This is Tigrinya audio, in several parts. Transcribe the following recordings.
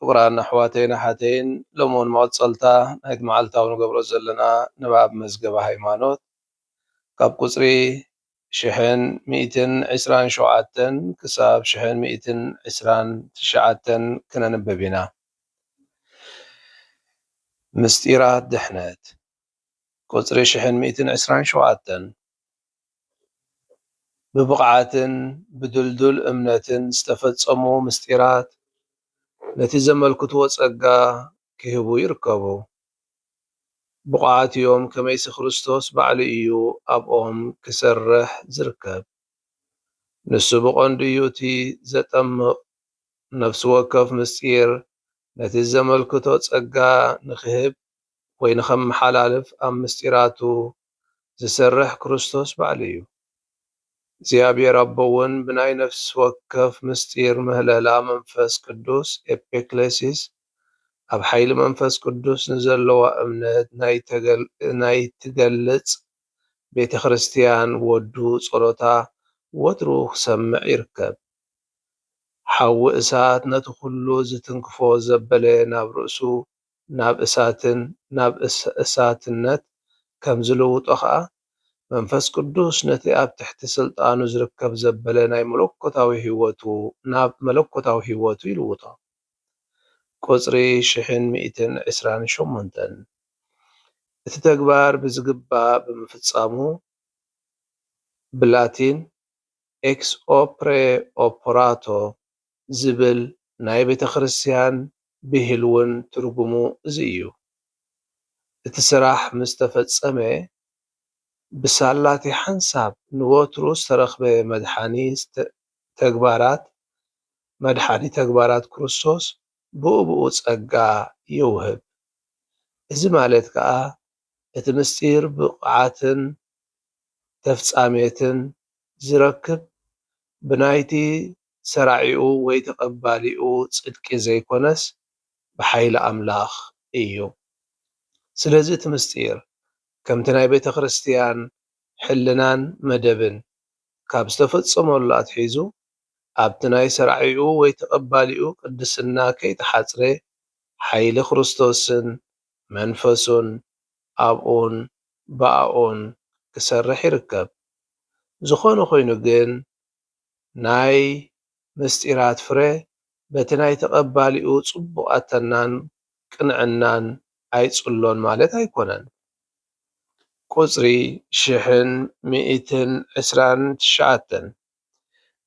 ፍቅራን ኣሕዋተይን ኣሓተይን ሎሚ ውን መቀጸልታ ናይቲ መዓልታዊ ንገብሮ ዘለና ንባብ መዝገበ ሃይማኖት ካብ ቁጽሪ ሽሕን ሚእትን ዕስራን ሸውዓተን ክሳብ ሽሕን ሚእትን ዕስራን ትሽዓተን ክነንብብ ኢና ምስጢራት ድሕነት። ቁጽሪ ሽሕን ሚእትን ዕስራን ሸውዓተን ብብቕዓትን ብድልዱል እምነትን ዝተፈጸሙ ምስጢራት ነቲ ዘመልክትዎ ጸጋ ኪህቡ ይርከቡ። ብቑዓት እዮም ከመይሲ ክርስቶስ ባዕሉ እዩ ኣብኦም ኪሰርሕ ዚርከብ። ንሱ ብቐንዱ እዩ እቲ ዘጠምቕ ነፍሲ ወከፍ ምስጢር ነቲ ዘመልክቶ ጸጋ ንኺህብ ኮይኑ ከመሓላልፍ ኣብ ምስጢራቱ ዝሰርሕ ክርስቶስ ባዕሉ እዩ። እግዚኣብሔር ኣቦ እውን ብናይ ነፍሲ ወከፍ ምስጢር ምህለላ መንፈስ ቅዱስ፣ Epiclesis፣ ኣብ ሓይሊ መንፈስ ቅዱስ ንዘለዋ እምነት ናይ ትገልጽ ቤተ ክርስቲያን ወዱ ጸሎታ ወትሩ ክሰምዕ ይርከብ። ሓዊ እሳት ነቲ ኩሉ ዝትንክፎ ዘበለ ናብ ርእሱ ናብ እሳትን ናብ እሳትነት ከም ዝልውጦ ከኣ መንፈስ ቅዱስ ነቲ ኣብ ትሕቲ ስልጣኑ ዝርከብ ዘበለ ናይ መለኮታዊ ሕይወቱ ናብ መለኮታዊ ሕይወቱ ይልውጦ። ቁጽሪ ሽሕን ሚእትን ዕስራን ሸሞንተን። እቲ ተግባር ብዝግባእ ብምፍጻሙ ብላቲን Ex opere operato ዝብል ናይ ቤተ ክርስቲያን ብሂል ውን ትርጉሙ እዚ እዩ። እቲ ስራሕ ምስ ተፈጸመ ብሳላቲ ሓንሳብ ንወትሩ ዝተረኽበ መድሓኒ ተግባራት መድሓኒ ተግባራት ክርስቶስ ብኡብኡ ጸጋ ይውህብ። እዚ ማለት ከኣ እቲ ምስጢር ብቕዓትን ተፍጻሜትን ዝረክብ ብናይቲ ሰራዒኡ ወይ ተቀባሊኡ ጽድቂ ዘይኮነስ ብሓይሊ ኣምላኽ እዩ። ስለዚ እቲ ምስጢር ከምቲ ናይ ቤተክርስትያን ሕልናን መደብን ካብ ዝተፈጸመሉ ኣትሒዙ ኣብቲ ናይ ሰራዒኡ ወይ ተቀባሊኡ ቅድስና ከይተሓጽረ ሓይሊ ክርስቶስን መንፈሱን ኣብኡን ብኣኡን ክሰርሕ ይርከብ። ዝኾነ ኮይኑ ግን ናይ ምስጢራት ፍረ በቲ ናይ ተቐባሊኡ ጽቡቕ ኣተናን ቅንዕናን ኣይጽሎን ማለት ኣይኮነን። ቁጽሪ ሽሕን ሚእትን ዕስራን ትሽዓተን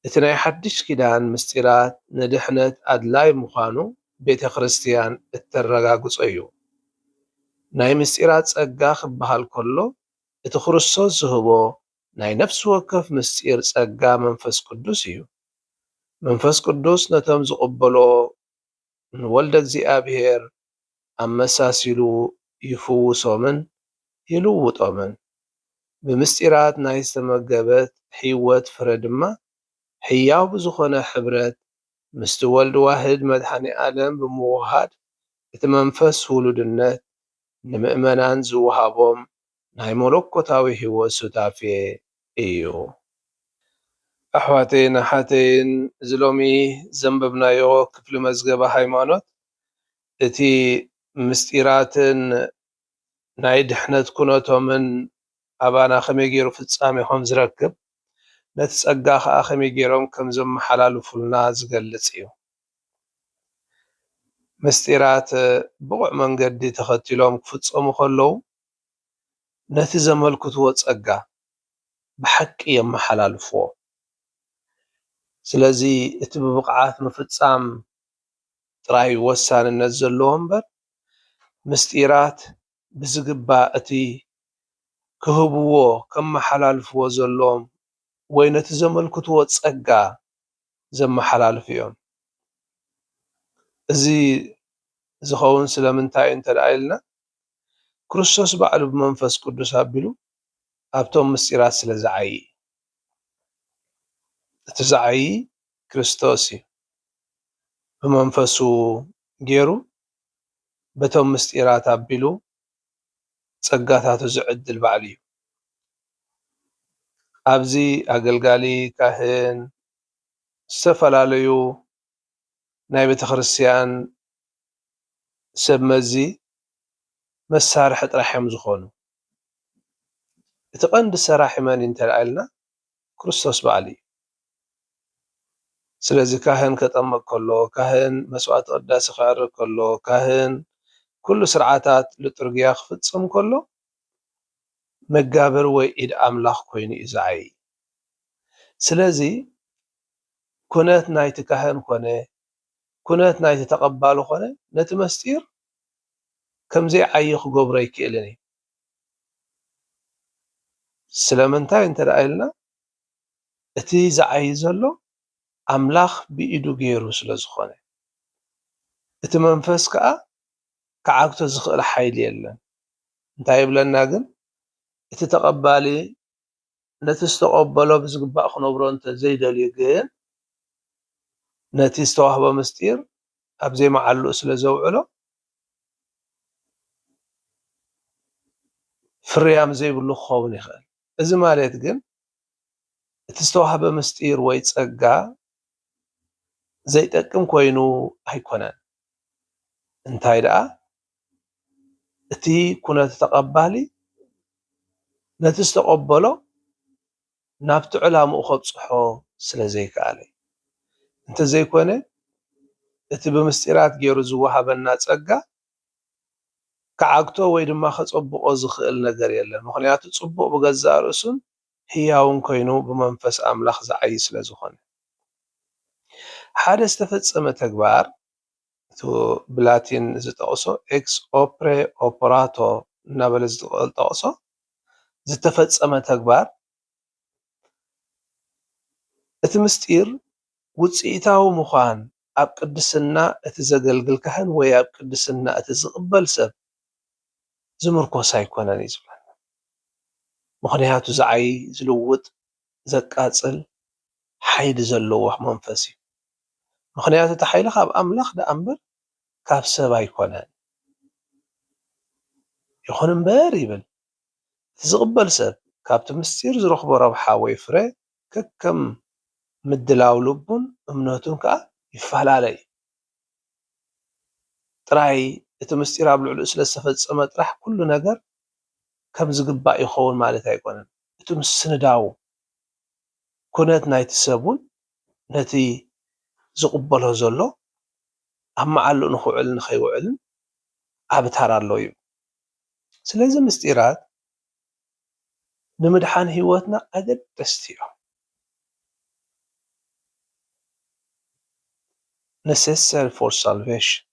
እቲ ናይ ሓድሽ ኪዳን ምስጢራት ንድሕነት ኣድላይ ምዃኑ ቤተ ክርስትያን እተረጋግጾ'ዩ። ናይ ምስጢራት ጸጋ ክበሃል ከሎ እቲ ክርስቶስ ዝህቦ ናይ ነፍሲ ወከፍ ምስጢር ጸጋ መንፈስ ቅዱስ እዩ። መንፈስ ቅዱስ ነቶም ዝቕበሎ ንወልደ እግዚኣብሔር ኣመሳሲሉ ይፍውሶምን ይልውጦምን። ብምስጢራት ናይ ዝተመገበት ሕይወት ፍረ ድማ ሕያው ብዝኾነ ሕብረት ምስቲ ወልድ ዋህድ መድኃኔ ዓለም ብምውህሃድ እቲ መንፈስ ውሉድነት ንምእመናን ዝወሃቦም ናይ መሎኮታዊ ህይወት ሱታፌ እዩ። ኣሕዋተይን ኣሓተይን እዚ ሎሚ ዘንበብናዮ ክፍሊ መዝገበ ሃይማኖት እቲ ምስጢራትን ናይ ድሕነት ኩነቶምን ኣባና ከመይ ገይሩ ፍጻሜ ከም ዝረክብ ነቲ ጸጋ ከኣ ከመይ ገይሮም ከም ዘመሓላልፉልና ዝገልጽ እዩ። ምስጢራት ብቑዕ መንገዲ ተኸቲሎም ክፍጸሙ ከለዉ፣ ነቲ ዘመልክትዎ ጸጋ ብሓቂ የመሓላልፍዎ። ስለዚ እቲ ብብቕዓት ምፍጻም ጥራይ ወሳንነት ዘለዎ እምበር፣ ምስጢራት ብዝግባእ እቲ ክህብዎ፣ ከመሓላልፍዎ ዘለዎም ወይ ነቲ ዘመልክትዎ ጸጋ ዘመሓላልፉ እዮም። እዚ ዝኸውን ስለምንታይ እዩ እንተ ደኣ ኢልና፣ ክርስቶስ ባዕሉ ብመንፈስ ቅዱስ ኣቢሉ ኣብቶም ምስጢራት ስለ ዝዓዪ እዩ። እቲ ዝዓዪ ክርስቶስ እዩ። ብመንፈሱ ገይሩ በቶም ምስጢራት ኣቢሉ ጸጋታቱ ዝዕድል ባዕሉ እዩ። ኣብዚ ኣገልጋሊ ካህን ዝተፈላለዩ ናይ ቤተክርስትያን ሰብ መዚ መሳርሒ ጥራሕ እዮም ዝኾኑ። እቲ ቀንዲ ሰራሒ መን እዩ እንተኢልና ክርስቶስ ባዕሉ እዩ። ስለዚ ካህን ከጠምቕ ከሎ፣ ካህን መስዋዕተ ቅዳሴ ከዕርግ ከሎ፣ ካህን ኩሉ ስርዓታት ልጡርግያ ክፍጽም ከሎ መጋብር ወይ ኢድ ኣምላኽ ኮይኑ እዩ ዝዓዪ። ስለዚ ኩነት ናይቲ ካህን ኮነ ኩነት ናይቲ ተቐባሊ ኮነ ነቲ መስጢር ከም ዘይዓዪ ክገብሮ ኣይክእልን እዩ። ስለምንታይ እንተ ኢልና እቲ ዝዓዪ ዘሎ ኣምላኽ ብኢዱ ገይሩ ስለ ዝኾነ። እቲ መንፈስ ከኣ ክዓግቶ ዝኽእል ሓይሊ የለን። እንታይ ይብለና ግን እቲ ተቐባሊ ነቲ ዝተቐበሎ ብዝግባእ ክነብሮ እንተ ዘይደልዩ ግን፣ ነቲ ዝተዋህቦ ምሥጢር ኣብ ዘይመዓልኡ ስለ ዘውዕሎ፣ ፍርያም ዘይብሉ ክኸውን ይኽእል። እዚ ማሌት ግን፣ እቲ ዝተዋህበ ምሥጢር ወይ ጸጋ ዘይጠቅም ኮይኑ ኣይኮነን። እንታይ ደኣ እቲ ኩነተ ተቐባሊ ነቲ ዝተቐበሎ ናብቲ ዕላምኡ ከብጽሖ ስለ ዘይከኣለ እዩ። እንተ ዘይኮነ እቲ ብምስጢራት ገይሩ ዝወሃበና ጸጋ ክዓግቶ ወይ ድማ ከጸብቖ ዝኽእል ነገር የለን። ምኽንያቱ ጽቡቕ ብገዛእ ርእሱን ህያውን ኮይኑ ብመንፈስ ኣምላኽ ዝዓዪ ስለ ዝኾነ። ሓደ ዝተፈጸመ ተግባር እቱ ብላቲን ዝጠቕሶ ኤክስ ኦፕሬ ኦፕራቶ እናበለ ዝጠቕሶ ዝተፈፀመ ተግባር እቲ ምስጢር ውፅኢታዊ ምዃን ኣብ ቅድስና እቲ ዘገልግል ካህን ወይ ኣብ ቅድስና እቲ ዝቕበል ሰብ ዝምርኮስ ኣይኮነን እዩ ዝብለና። ምኽንያቱ ዝዓይ ዝልውጥ ዘቃጽል ሓይሊ ዘለዎ መንፈስ እዩ። ምኽንያቱ እቲ ሓይሊ ካብ ኣምላኽ ደኣ እምበር ካብ ሰብ ኣይኰነን። ይኹን እምበር ይብል፣ እቲ ዝቕበል ሰብ ካብቲ ምስጢር ዝረኽቦ ረብሓ ወይ ፍረ ከከም ምድላው ልቡን እምነቱን ከኣ ይፈላለ እዩ። ጥራይ እቲ ምስጢር ኣብ ልዕሊኡ ስለ ዝተፈጸመ ጥራሕ ኩሉ ነገር ከም ዝግባእ ይኸውን ማለት ኣይኮነን። እቲ ምስንዳው ኩነት ናይቲ ሰብ እውን ነቲ ዝቕበሎ ዘሎ ኣብ መዓልኡ ንክውዕልን ንከይውዕልን ዓቢ ታራ ኣለዎ ይብል። ስለዚ ምስጢራት ንምድሓን ህይወትና ኣገደስቲ እዮም። Necessary for Salvation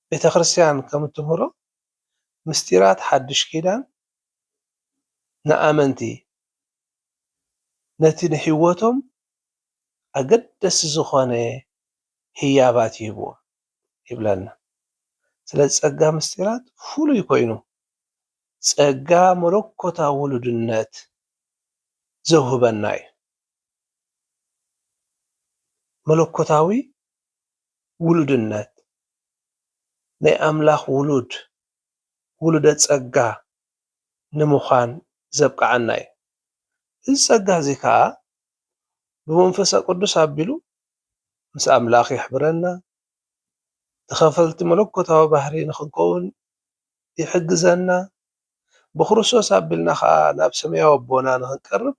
ቤተ ክርስቲያን ከም እትምህሮ ምስጢራት ሓድሽ ኪዳን ንኣመንቲ ነቲ ንህይወቶም ኣገደስቲ ዝኾነ ህያባት ይህብዎም ይብለና። ስለዚ ጸጋ ምስጢራት ፍሉይ ኮይኑ ጸጋ መለኮታዊ ውሉድነት ዘውህበና እዩ። መለኮታዊ ውሉድነት፣ ናይ ኣምላኽ ውሉድ፣ ውሉደ ጸጋ፣ ንምዃን ዘብቅዓና እዩ። እዚ ጸጋ እዚ ከኣ ብመንፈሰ ቅዱስ ኣቢሉ ምስ ኣምላኽ የሕብረና፣ ተኸፈልቲ መለኮታዊ ባህሪ ንኽንከውን ይሕግዘና፣ ብክርስቶስ ኣቢልና ከኣ ናብ ሰማያዊ ኣቦና ንኽንቀርብ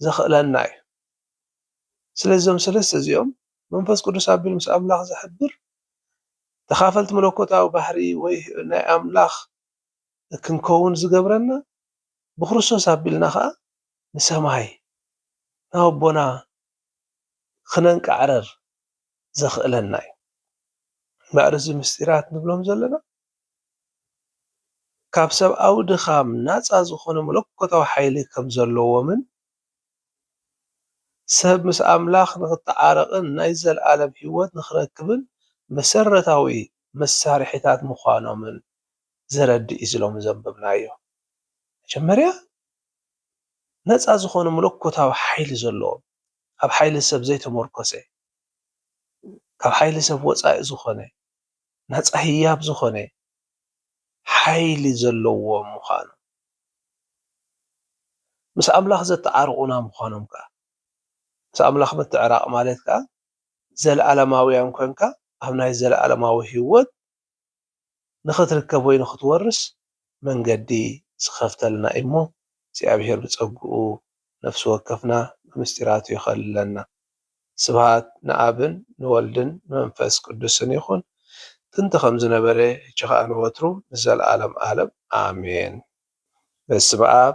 ዘኽእለና እዩ። ስለዚ እዞም ሰለስተ እዚኦም መንፈስ ቅዱስ ኣቢሉ ምስ ኣምላኽ ዝሕብር ተኻፈልቲ መለኮታዊ ባህሪ ወይ ናይ ኣምላኽ ክንከውን ዝገብረና ብክርስቶስ ኣቢልና ከኣ ንሰማይ ናብ ኣቦና ክነንቃዕርር ዘኽእለና እዩ። እምበኣር እዚ ምስጢራት ንብሎም ዘለና፣ ካብ ሰብኣዊ ድኻም ናጻ ዝኾነ መለኮታዊ ሓይሊ ከም ዘለዎምን ሰብ ምስ ኣምላኽ ንኽተዓረቕን ናይ ዘለኣለም ህይወት ንኽረክብን መሰረታዊ መሳርሒታት ምዃኖምን ዘረድእ እዩ እዚ ሎሚ ዘንበብናዮ መጀመርያ ናጻ ዝኾነ መለኮታዊ ሓይሊ ዘለዎም ኣብ ሓይሊ ሰብ ዘይተመርኮሰ ካብ ሓይሊ ሰብ ወጻኢ ዝኾነ ናጻ ህያብ ዝኾነ ሓይሊ ዘለዎም ምዃኖም፣ ምስ ኣምላኽ ዘተዓርቑና ምዃኖም ከኣ፣ ምስ ኣምላኽ ምትዕራቕ ማለት ከኣ ዘለኣለማውያን ኰንካ ኣብ ናይ ዘለኣለማዊ ህይወት ንኽትርከብ ወይ ንኽትወርስ መንገዲ ዝኸፍተልና እዩ እሞ እግዚኣብሔር ብጸግኡ ነፍሲ ወከፍና ብምስጢራቱ ይኸልለና። ስብሃት ንኣብን ንወልድን ንመንፈስ ቅዱስን ይኹን ጥንቲ ከም ዝነበረ ሕጂ ከኣ ንወትሩ ንዘለዓለም ኣለም ኣሜን በስመኣብ